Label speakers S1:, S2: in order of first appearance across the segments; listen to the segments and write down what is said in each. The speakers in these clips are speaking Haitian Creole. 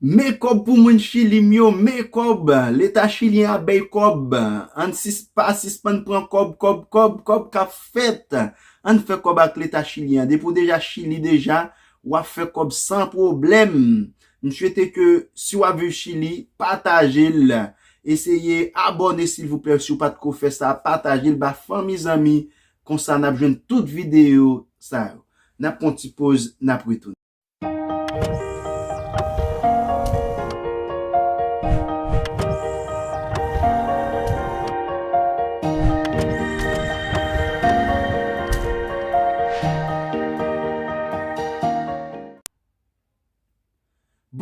S1: Men kob pou moun chili m yo men kob leta chilien ap bey kob ann sis pa sispann pran kob kob kob kob kap fet ann fe kob ak leta chilien depi w deja chili deja wap fe kob san problem m swete ke si wap viv chili patajel eseye abone silvouplè si w pat ko fe sa patajel ba fanmi zanmi konsa nap jwenn tout video sa yo nap pran yon ti poz nap retounen.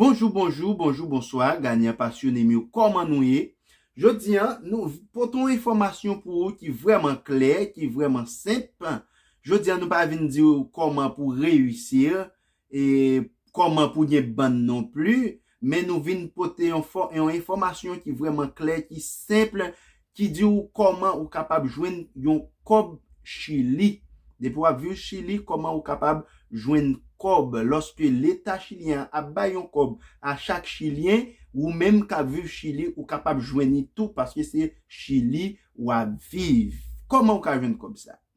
S1: Bonjou bonjou bonjou bonswa ganyan pasyonem yo kòman nou ye jodi an nou pote yon enfòmasyon pou ou ki vrèman klè ki vrèman senp Jodi a nou pa vin di ou kòman pou reyisir e kòman pou gen bann non pli, men nou vin pote yon enfòmasyon ki vrèman klè, ki senp, ki di ou kòman ou kapab jwenn yon kòb Chili. Depi w ap viv Chili, kòman ou kapab jwenn kòb. Lòske leta chilyen an ap bay yon kòb a chak chilyen, ou menm k ap viv Chili, ou kapab jwenn li tou paske se Chili w ap viv. Kòman ou ka jwenn kòb sa a?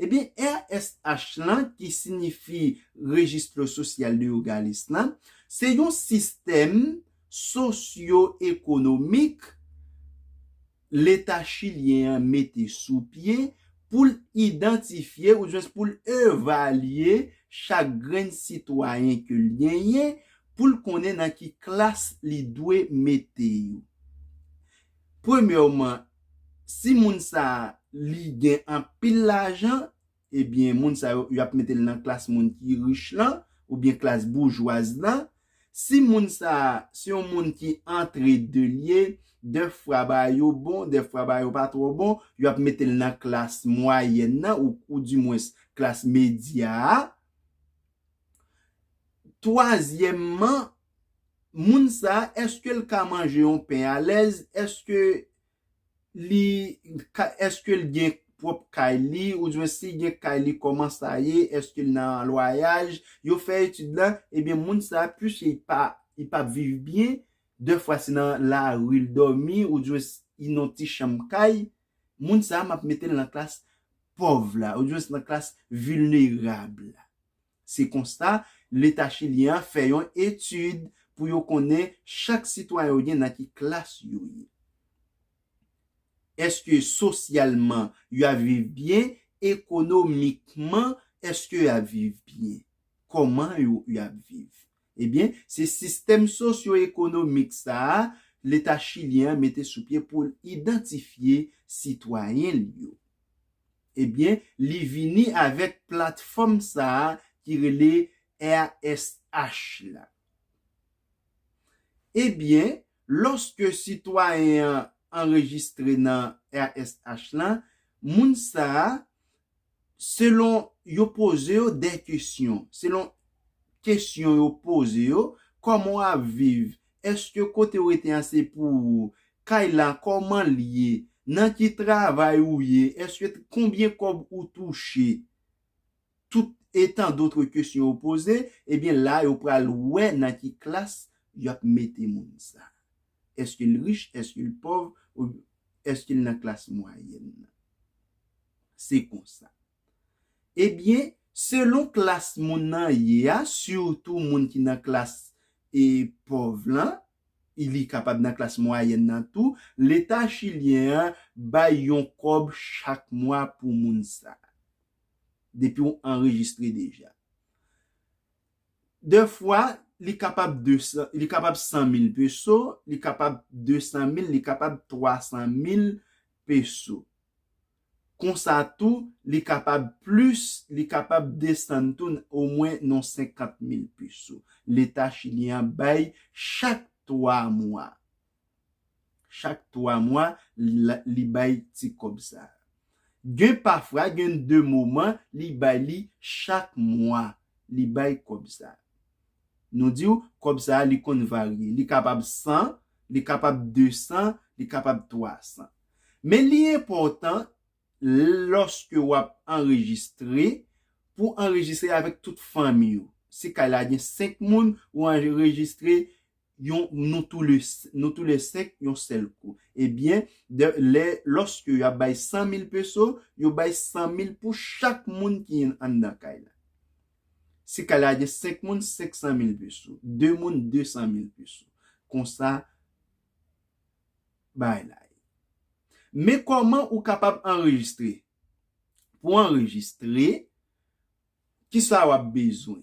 S1: Ebyen RSH lan ki sinifi Registre Social de Yogalis lan se yon sistèm sosyo ekonomik leta chilyen an mete sou pye pou l idantifye ouzwens pou l evalye chak grenn sitwayen ke l genyen pou l konnen nan ki klas li dwe mete yo. Premyèman, si moun sa a li gen anpil lajan, ebyen moun sa yo, y ap mete l nan klas moun ki rich lan, oubyen klas boujwaz lan. Si moun sa a se yon moun ki antrede l ye, dèfwa ba yo bon, dèfwa ba yo pa twò bon, y ap mete l nan klas mwayèn nan, oudimwens klas medya a. Twazyèmman, moun sa a, èske l ka manje yon pen alèz? Èske li ka, èske l gen pwòp kay li? Ouzwen si l gen kay li, kòman sa ye? Èske l nan lwayaj? Yo fè etid la, ebyen moun sa a, puiske li pa, li pa viv byen, dèfwa se nan lari l dòmi, ouzwen li nan yon ti chanm kay, Moun sa map metel nan klas pòv la oudjwens nan klas vilnerab la. Se konsa leta chilyen an fè yon etid pou yo konnen chak sitwayen yo gen nan ki klas yo ye. Eske sosyalman yo ap viv byen, ekonomikman eske yo ap viv byen. Kòman yo ap viv. Ebyen, se sistèm sosyoekonomik sa a Leta chilyen an mete sou pye pou l idantifye sitwayen l yo. Ebyen, li vini avèk platfòm sa a ki rele RSH la. Ebyen, lòske sitwayen an anrejistre nan RSH la, moun sa a Selon yo poze yo dè kesyon, selon kesyon yo poze yo, kòman w ap viv, èske kote w rete an se pou ou, kay la kòman l ye, nan ki travay ou ye, èske konbyen kòb ou touche, tout e tan dotre kesyon yo poze, ebyen la yo pral wè nan ki klas y ap mete moun sa. Eske l rich, eske l pòv, oubyen eske l nan klas mwayèn nan? Se konsa. Ebyen, selon klas moun nan ye a, sitou moun ki nan klas e pòv lan, e li kapab nan klas mwayèn nan tou, Leta chilyen an bay yon kòb chak mwa pou moun sa a, depi w anrejistre deja. De fwa, li kapab 200, li kapab 100 mil peso, li kapab 200 mil, li kapab 300 mil peso. Konsa tou, li kapab plis, li kapab desann tou n omwen nan 50 mil peso, Leta chilyen an bay chak 3 mwa. Chak 3 mwa li bay ti kòb sa. Gen pafwa gen de moman li bay li chak mwa li bay kòb sa. Nou di w kòb sa li konn varye. Li kapab 100, li kapab 200, li kapab 300. Men li enpòtan lòske w ap anrejistre pou anrejistre avèk tout fanmi w. Si kay la gen 5 moun, ou anrejistre yon nou tou le nou tou le 5 yon sèl kou e byen dè lè lòske yap bay 100 mil peso yo bay 100 mil pou chak moun ki yn anndan kay la si kay la gen 5 moun 500 mil peso 2 moun 200 mil peso konsa bagay la ye men kòman ou kapab anrejistre pou anrejistre kisa wap bezwen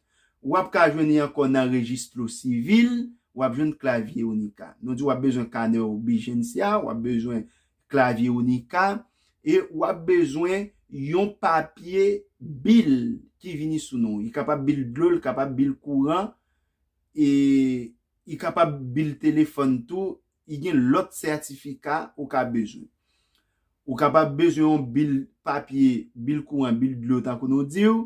S1: Ou ap ka jwenn li ankò nan Registro Civil, ou ap jwenn Clavier Unica. Nou di ou ap bezwen kanè Urbigencia, ou ap bezwen Clavier Unica, e ou ap bezwen yon papye bil ki vini sou non. Li kapab bil dlo, li kapab bil kouran, e li kapab bil telefòn tou. Li gen lòt sètifika ou ka bezwen. Ou kapab bezwen yon bil papye, bil kouran, bil dlo tankou nou di ou.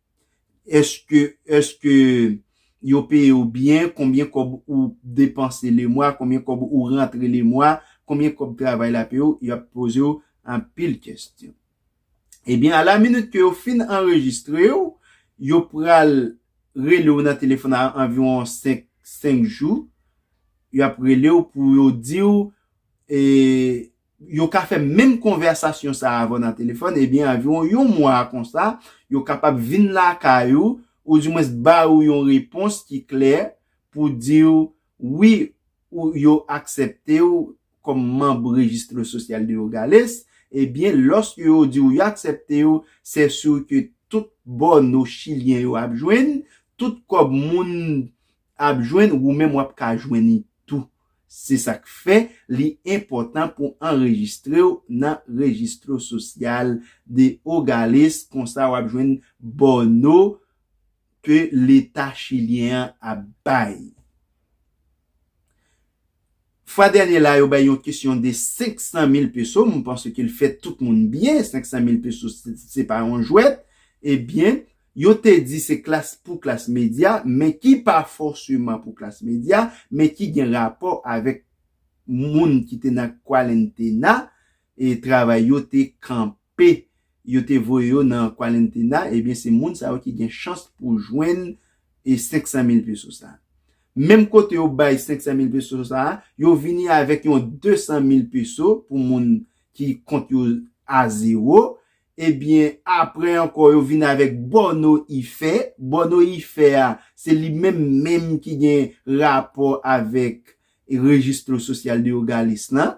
S1: Eske eske yo peye w byen, konbyen kòb ou depanse le mwa, konbyen kòb ou rantre le mwa, konbyen kòb travay la peye w, y ap poze w anpil kestyon. Ebyen a la minit ke yo fin anrejistre w, yo pral rele w nan telefòn a anviwon 5 5 jou, y ap rele w pou yo di w e yo ka fè menm konvèsasyon sa a avè w nan telefòn, ebyen anviwon yon mwa konsa, yo kapab vin lakay ou, oudimwens ba ou yon repons ki klè pou di w wi ou yo aksepte w kòm manb Registro Social de Hogales, ebyen lòske yo di w yo aksepte w, sè sur ke tout bòno chilyen yo ap jwenn, tout kòb moun ap jwenn ou menm wap ka jwenn li tou se sak fè li enpòtan pou anrejistrew nan registro social de hogales konsa wap jwenn bòno ke leta chilyen an ap bay. Fwa dènye la yo bay yon kesyon de 500 mil peso, m panse ke l fè tout moun byen, 500 mil peso se pa yon jwèt, ebyen yo te di se klas pou klas medya, men ki pa fòseman pou klas medya, men ki gen rapò avèk moun ki te nan kwalentena, travay yo te kanpe yo te voye yo nan kwalentena ebyen se moun sa yo ki gen chans pou jwenn 500 mil peso sa menm kote yo bay 500 mil peso sa yo vini avèk yon 200 mil peso pou moun ki kont yo a zewo ebyen aprè ankò yo vini avèk bòno ife bòno ife a se li menm menm ki gen rapò avèk rejistr sosyal de yogalis lan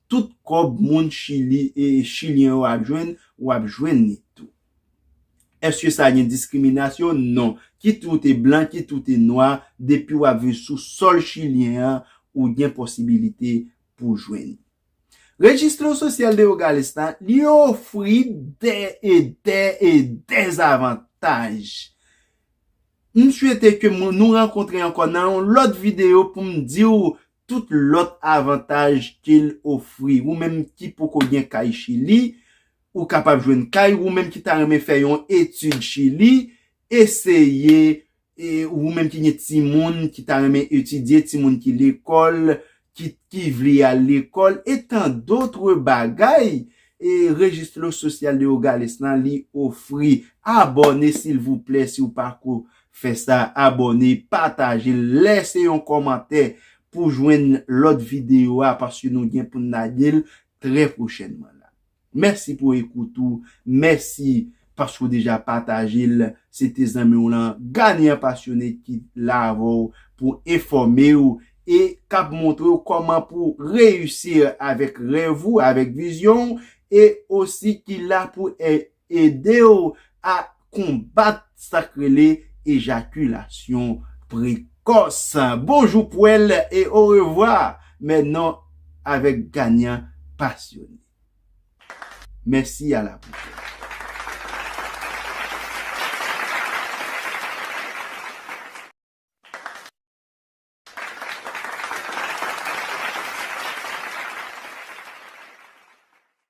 S1: Tout kòb moun chili e chilyen yo ap jwenn ou ap jwenn li tou. Eske sa gen diskriminasyon? Non. Kit ou te blan kit ou te nwa depi wap viv sou sòl chilyen an ou gen posibilite pou jwenn li. Registro Social de Hogar Esta li ofri dè e dè e dè avantaj. M swete ke nou rankontre ankò nan yon lòt videyo poum diw tout lòt avantaj ke l ofri. Ou menm ki poko gen kay Chili, ou kapab jwenn kay. Ou menm ki ta renmen fè yon etid Chili, eseye. E ou menm ki gen timoun ki ta renmen etidye, timoun ki lekòl, ki vle al lekòl, e tan dotre bagay, e Registro Social de Hogales lan li ofri. Abòne silvouplè si ou pako Fè sa abòne pataje lèse yon kòmantè pou jwenn lòt video a paske nou gen poun lagel trè pwochènman la mèsi pou ekout ou mèsi paske ou deja patajel se te zanmiw lan Ghanaian Passionate ki la avèw pou enfòmew e kap montrew kòman pou reyisir avèk rèv ou avèk vizyonw e osi ki la pou Ede w a konbat sa k rele ejakilasyon prekòs. Bonjou pwèl e orevwa mè non avèk ganyan pasyone. Mèsi a la pwòchèn.